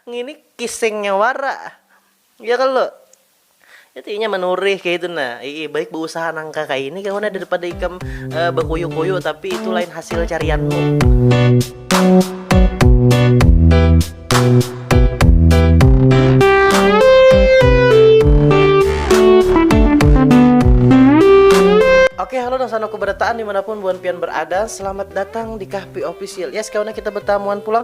Ngini kisengnya wara, ya kalo? Itu inya manurih kaitu nah, iih baik bausaha nangka kaini kawan nah daripada ikam bakuyu-kuyu tapi itu lain hasil carianmu. Oke halo nang sanuku barataan dimanapun buhan pian berada, selamat datang di Kahpi Official. Yes kawan nah kita batamuan pulang.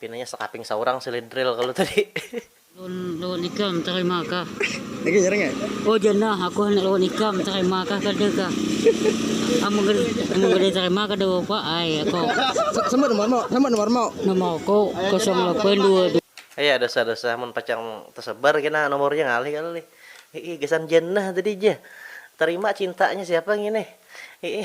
Pinanya sakaping saurang silidril kalu tadi. Lawan lawan ikam tarima kah. Lagi jarang ya. Oh jar nah aku handak lawan ikam tarima kah kada kah. Amun kada amun kada tarima kada papa ai aku. Sambat nomor mu sambat nomor mu. Nomor ku kosong lapan dua dua. Aya dosa dosa mun pacang tasebar kena nomornya ngalih kalo lih. Hiih gasan jar nah tadi jar. Tarima cintanya siapa ngini. Hiih.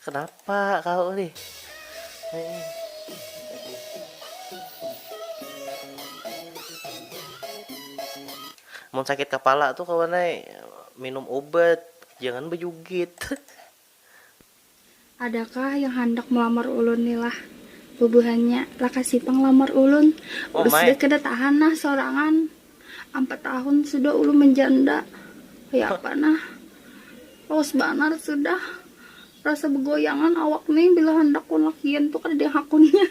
Kenapa kau nih? Mun sakit kepala tuh kawan ai minum obat, jangan bejugit. Adakah yang handak melamar ulun ni lah? Bubuhannya, lakasi pang lamar ulun, ulus deh kada tahan nah sorangan. Ampat tahun sudah ulun manjanda, kaya apa nah. Lawas banar sudah, rasa begoyangan awak ni bila handak wan lakian tu kada ada yang hakunnya.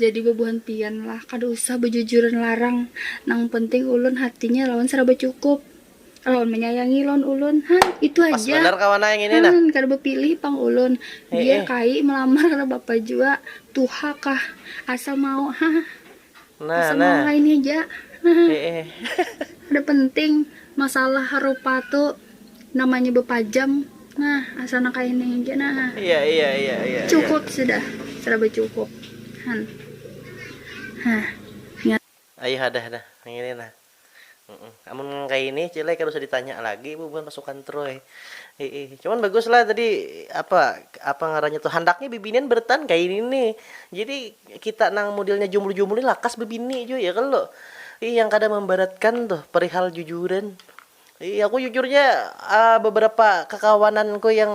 Jadi bebuhan pian lah, kada usah bejujuran larang, nang penting ulun hatinya lawan saraba cukup. Lawan manyayangi lawan ulun han itu Pas haja banar kawan ai yang ini nah. Han kada bapilih pang ulun Eh, biar eh. kai melamar kada bapa jua tuha kah asal mau hah Nah, asal mau nah. kaini haja hah Eh, eh. kada penting masalah harupa tu namanya bapajam nah asal nang kaini haja nah hah Iya, iya, iya, iya. iya. cukup sudah seraba cukup han hah Ai hadah nah yang ini nah. Amun kaya ini cile kada usah ditanya lagi bu buhan pasukan troy iih cuman bagus lah tadi apa apa ngarannya tu handaknya bibinian bertahan kaya ini ni jadi kita nang modelnya jumbul jumbul ni lakas bebini jua ya kalo iih yang kada membaratkan tuh perihal jujuran iih aku jujurnya beberapa kakawanan ku yang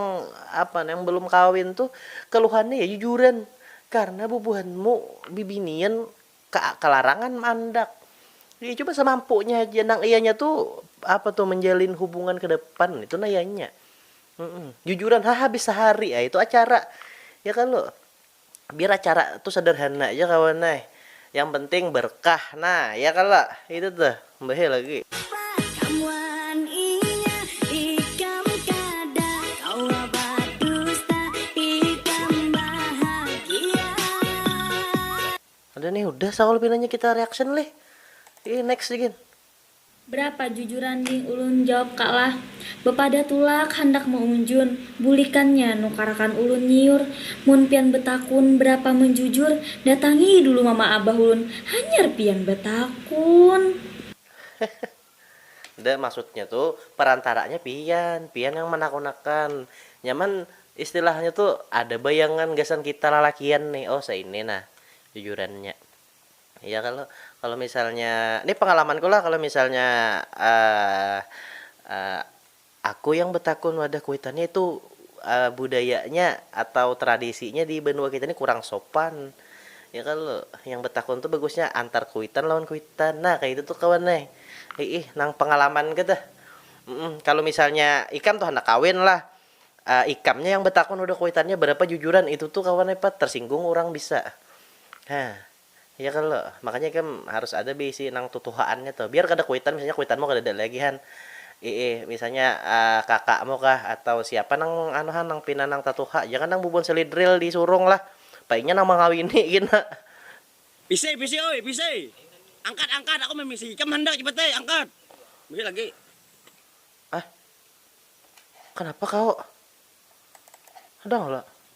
apa yang belum kawin tuh keluhannya ya jujuran karena bubuhanmu bibinian. Ka kalarangan maandak. Iya jua samampunya haja nang iyanya tu apa tu manjalin hubungan ke depan itu nah iyanya. Jujuran ha habis sahari ai tu acara ya kalo. Biar acara tu sadarhana ja kawan ai. Yang penting berkah nah ya kalo itu tuh mbaheh lagi. Ada nih udah saul pinanya kita reaction lih ih next nih gin. Berapa jujuran ding ulun jawab ka lah. Bepadah tulak handak meunjun, bulikannya nukarakan ulun nyiur, mun pian betakun berapa menjujur datangi dulu mama abah ulun hanyar pian betakun. Nda, maksudnya tu perantaranya pian, pian nang manakunakan. Nyaman istilahnya tu ada bayangan gasan kita lalakian nih, oh saini nah jujurannya. Iya kalo, kalo misalnya, ni pengalamanku lah kalo misalnya Aku yang betakun wadah kuitannya itu budayanya atau tradisinya di banua kita nih kurang sopan ya kalo yang betakun tuh bagusnya antar kuitan lawan kuitan nah kaya itu tuh kawan ai iih nang pengalaman ku tuh kalo misalnya ikam tuh handak kawin lah ikamnya yang betakun wadah kuitannya barapa jujuran itu tuh kawan ai pat tersinggung urang bisa ha. Iya kalo, makanya ikam harus ada beisi nang tutuhaannya tuh, biar kada kuitan misalnya kuitanmu kadada lagi han, iih misalnya kakakmu kah atau siapa nang anu han nang pina nang tatuha, jangan nang bubuhan selidril di surung lah, apa inya nang mangawini gina. Pisei pisei oi pisei, angkat angkat aku mimisi ikam handak cepat ai angkat, mimisi lagi. Ah, kanapa kao.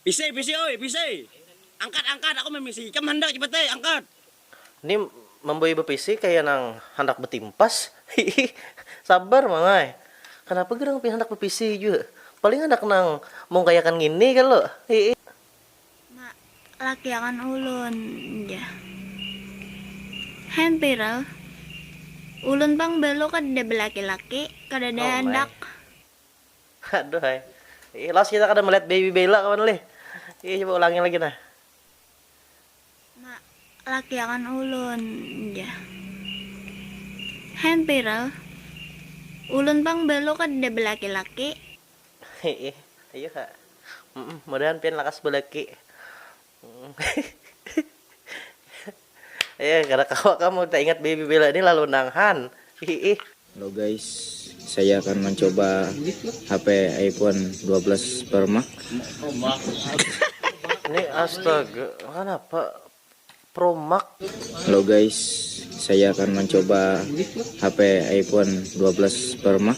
Pisai, pisai oi, pisai. Angkat, angkat, aku mamisi. Ikam handak cepat ai, angkat. Ni mambawa bapisi kaya nang handak batimpas, hiih. Sabar mama ai. Kanapa gerang pian handak bapisi jua. Paling handak nang mungkayakan ngini kalo, hiih. Ma, laki akan ulun, jar. Hempirl, ulun pang balu kadada balaki-laki, kadada handak. Aduhai. Ih Los kita kada melihat baby Bella kawan ulih. Ih coba ulangi lagi nah. Mak, laki akan ulun jar. Hampir al. Ulun pang belo kadada belaki-laki. Hiih, ayuha. Mudahan pian lakas belaki. Eh, kada kawa kamu tak ingat baby bela ini lalu nang han. Hiih. Halo guys, saya akan mencoba HP iPhone 12 Pro Max. Ini astaga, kenapa Pro Max? Halo guys, saya akan mencoba HP iPhone 12 Pro Max.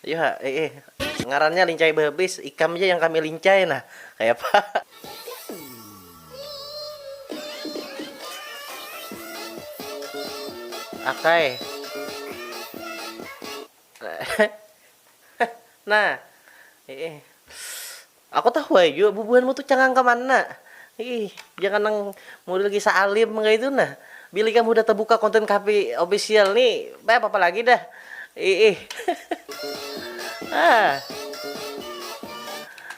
Ayu ha, eh eh, ngarannya lincai bahabis, ikam ja yang kami lincai nah, kayapa. Akay. nah, eh eh. Aku tahu ai jua bubuhanmu tu cangang ka mana. Ih, jangan nang model kisah alim kaitu nah. Bila ikam hudah tabuka konten Kahfi Official ni, bay apa-apa lagi dah. Iih. Hah.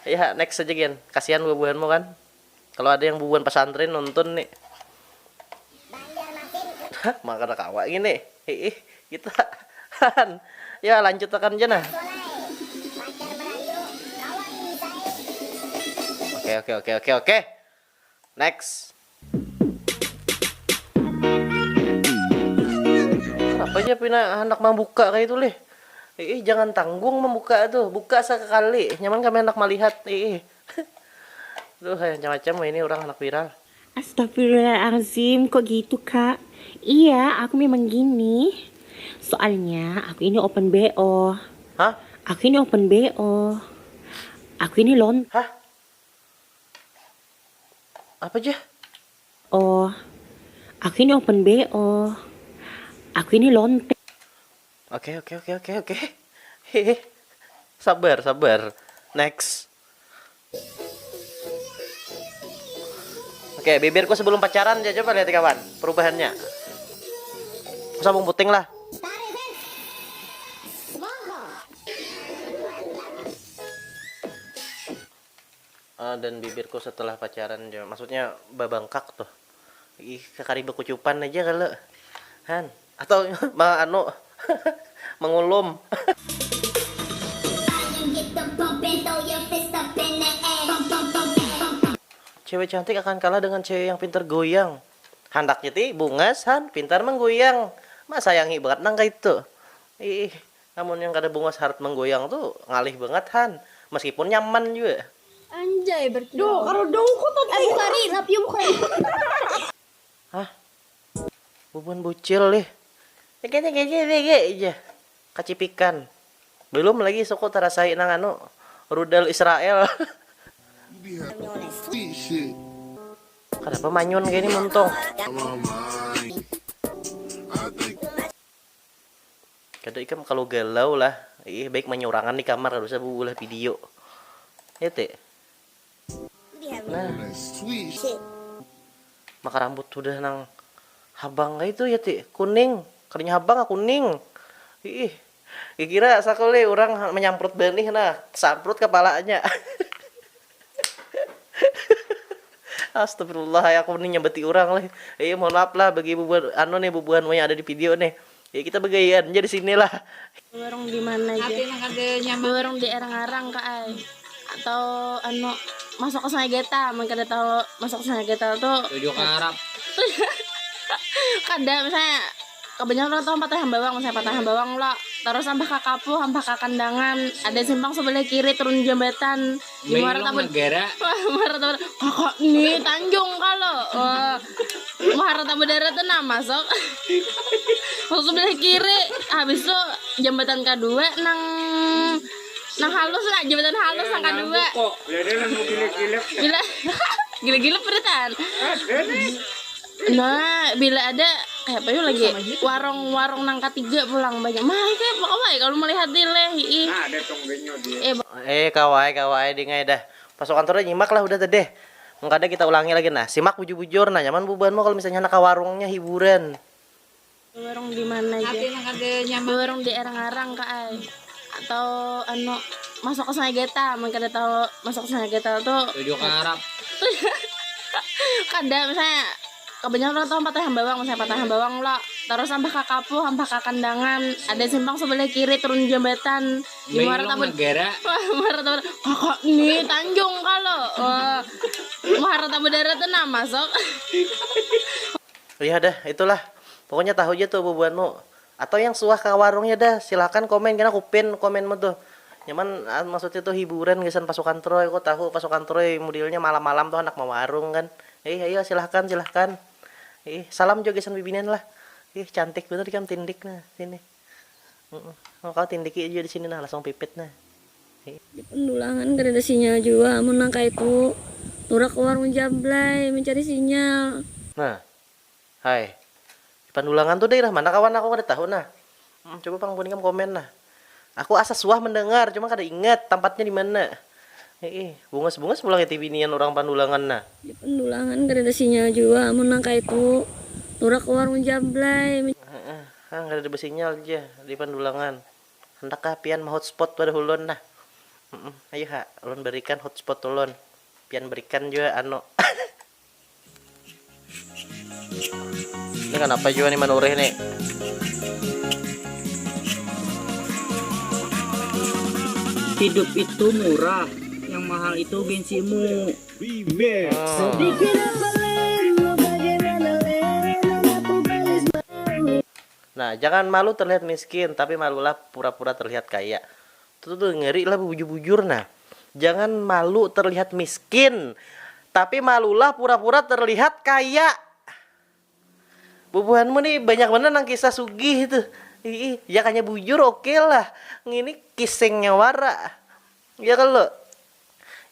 Yah, next haja gin. Kasihan bubuhanmu kan. Kalo ada yang bubuhan pasantren nonton ni. Mak kada kawa ngini. Hiih kita han. Ya lanjut akan ja nah. Oke oke oke oke oke. Next. Kenapa aja pina handak mambuka kayak itu lih. Ih, jangan tanggung membuka tuh. Buka sekali. Nyaman kami anak melihat. Ih. Aduh ai macam macam wahini urang handak viral. Astagfirullahalazim kok gitu kak Iya aku memang gini Soalnya aku ini open BO Hah? Aku ini open BO Aku ini lon Hah? Apa jah? Oh Aku ini open BO Aku ini lonte. Oke oke oke oke oke. Hehe. Sabar sabar. Next. Oke, bibirku sebelum pacaran ya coba lihat kawan perubahannya. Sabung puting lah. Dan bibirku setelah pacaran jua maksudnya babangkak tuh ih kakari bakucupan aja kalo han atau ma anu mangulum. Cewek cantik akan kalah dengan cewek yang pintar goyang handaknya ti bungas han pintar manggoyang ma sayangi bangat nang kaitu ih Amun yang kada bungas harat manggoyang tu ngalih bangat han, meskipun nyaman jua. Anjay berkilau. Hah? Bubuhan bucil nih. Jar kacipikan. Belum lagi suku tarasai nang anu, rudal Israel. Kadapa manyun kaya ni muntung. Kada ikam kalu galau lah ih baik manyurangan di kamar kada usah beulah video ya te maka rambut sudah nang habang kaitu ya te kuning kadanya habang ah kuning iih kira sakali urang manyamprut banih nah tesamprut kapalanya. Astagfirullah ai aku ni nyambati urang leh. Iya mohon maaf lah bagi bubuhan anu nih bubuhan wayang ada di video nih. Ya kita bagaian ja di sini lah. Bewarung di mana ja? Bewarung di Air Ngarang ka ai. Atau anu masuk ke Sungai Geta mun kada tahu masuk ke Sungai Geta tu. Tujuh karap. Kada misalnya. Kabanyakan orang tahu Patah Hambawang, misalnya Patah Hambawang lo. Terus Ampah Kakapuh, Ampah Kakandangan, ada simpang sebelah kiri turun jambatan. Di Muara Tabu. Negara. Wah, Muara Tabu. Kakak nih Tanjung kalau. Wah, Muara Tabu Dara tuh nah masuk. masuk sebelah kiri. Habis itu jambatan kedua nang nang halus lah, jambatan halus nang kedua. Gila gila peritan. Nah, bila ada kayak apa lagi warung-warung nang ketiga pulang banyak. Mah kayak apa kawai kalau melihat di leh. Nah, ada tong benyo di. Eh, eh kawai kawai dingai dah. Masuk kantor dah nyimak lah udah tadi. Mengkada kita ulangi lagi nah. Simak bujur-bujur nah nyaman bubuhanmu kalau misalnya handak ka warungnya hiburan. Bewarung di mana ja? Bewarung di Erang-arang ka ai. Atau anu masuk ke Sungai Geta, mun kada tahu masuk ke Sungai Geta tu Tujuh ke Arab. kada misalnya kebanyakan orang tahu Ampatan Hambawang, misalnya Ampatan Hambawang lo, terus Ampah Kakapuh, Ampah Kakandangan, ada simpang sebelah kiri turun jambatan di Muara Meilong Tabu- Negara. Wah, Muara Tabu Kakak ni Tanjung kalo. Wah. Muara Tabu Darat tu nah masuk. Uyah dah, itu lah. Pokoknya tahu ja tuh bubuhanmu. Atau yang suah ka warungnya dah, silahkan komen kena kupin komenmu tuh. Nyaman maksudnya tuh hiburan gasan pasukan troy, ko tahu pasukan troy mudilnya malam malam tuh handak mawarung kan. Ih ayo silahkan silahkan. Ih salam jua gasan bibinian lah. Ih cantik banar ikam tindik nah sini. Engkau tindiki jua disini nah langsung pipit nah. Di pendulangan kadada sinyal jua amun nang kaitu turak ka warung jablay mencari sinyal. Nah. Hai. Di pandulangan tu dairah mana kawan aku kada tahu nah. Coba pang buhan ikam komen nah. Aku asa suah mendengar cuma kada ingat tampatnya dimana. Hiih. Bungas bungas pulang iti binian urang pandulangan nah. Di pendulangan kadada sinyal jua amun nang kaitu turak ka warung jablay. Hang kadada basinyal ja di pandulangan. Handak kah pian mahotspot pada ulun nah. Humm ayu ha ulun barikan hotspot ulun. Pian barikan jua anu. Ni kanapa jua ni manurih ni. Hidup itu murah, yang mahal itu gengsimu. Nah jangan malu terlihat miskin tapi malulah pura pura terlihat kaya tuh tuh ngeri lah bujur bujur nah jangan malu terlihat miskin tapi malulah pura pura terlihat kaya. Bubuhanmu nih banyak banar nang kisah sugih tuh ii yak hanya bujur oke lah ngini kisengnya wara ya kalo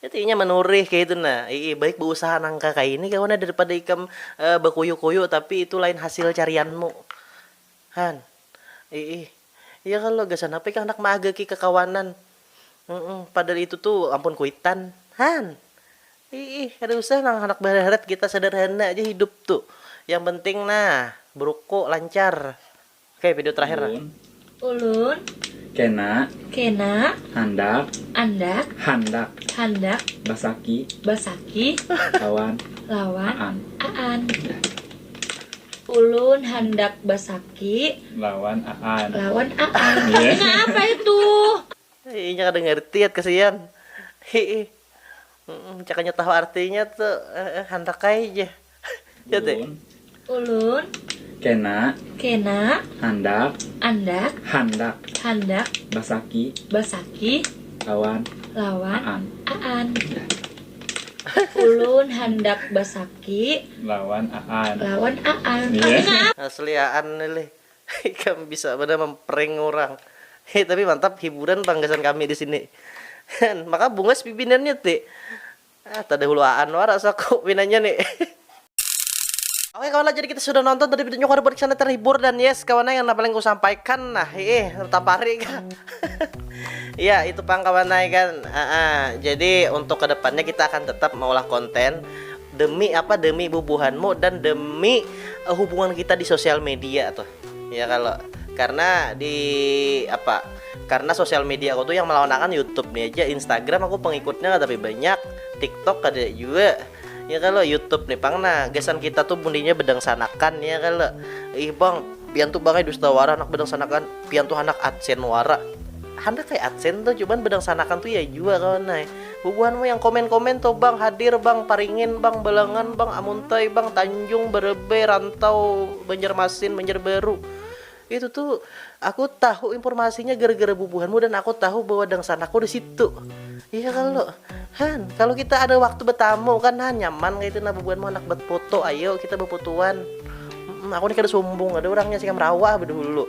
itu inya manurih kaya itu nah ii baik bausaha nangka kaini kawan nah daripada ikam bakuyu kuyu tapi itu lain hasil carianmu han ii ya kalo gasan apa ikam handak maagaki kakawanan padahal itu tuh ampun kuitan han. Iih kada usah nang handak baharat kita sederhana aja hidup tu yang penting nah beruko lancar okay video terakhir nah. Ulun. Kena. Kena. Handak. Andak. Handak. Handak. Basaki. Basaki. Lawan. Lawan. Aan. Aan. Ulun handak basaki. Lawan aan. Lawan aan. Nang apa itu. Inya kada ngerti at kasian. Iih. Cak hanyar tahu artinya tu handak ai ja. Ya teh. Ulun. Kena. Kena. Handak. Andak. Handak. Handak. Basaki. Basaki. Lawan. Lawan. Aan. Aan. Ulun handak basaki. Lawan aan. Lawan aan. Asli aan ni lih. Ikam bisa banar mamprank urang. Heh tapi mantap hiburan pang gasan kami disini. Hen, maka bungas pibinannya ti. Ah tadahulu aan wara saku pinanya ni. Oke kawan lah jadi kita sudah nonton tadi videonya kuharap buat kesana terhibur dan yes kawan yang paling ku sampaikan nah ih tapari kah ya itu pang kawan kan uh -uh. jadi untuk kedepannya kita akan tetap mengolah konten demi apa demi bubuhanmu dan demi uh, hubungan kita di sosial media tuh ya kalau karena di apa karena sosial media aku tuh yang melawakan YouTube nih aja Instagram aku pengikutnya nggak tapi banyak TikTok ada juga ya kalau YouTube nih pang nah gesan kita tuh bundinya bedang sanakan ya kalau ih bang pian tuh bangai dusta wara anak bedang sanakan pian tuh anak adsen wara handak kayak adsen tuh cuman bedang sanakan tuh ya juga kawan nah Bubuhan mu yang komen komen tuh bang hadir bang paringin bang balangan bang amuntai bang tanjung berebay rantau banjarmasin banjarbaru itu tuh aku tahu informasinya gara gara bubuhan mu dan aku tahu bahwa dangsan aku disitu iya kalo han kalo kita ada waktu betamu kan han nyaman kaitu nah bubuhan mu handak bat foto ayo kita bafotoan aku ni kada sumbung ada urangnya singam rawa ah badahulu.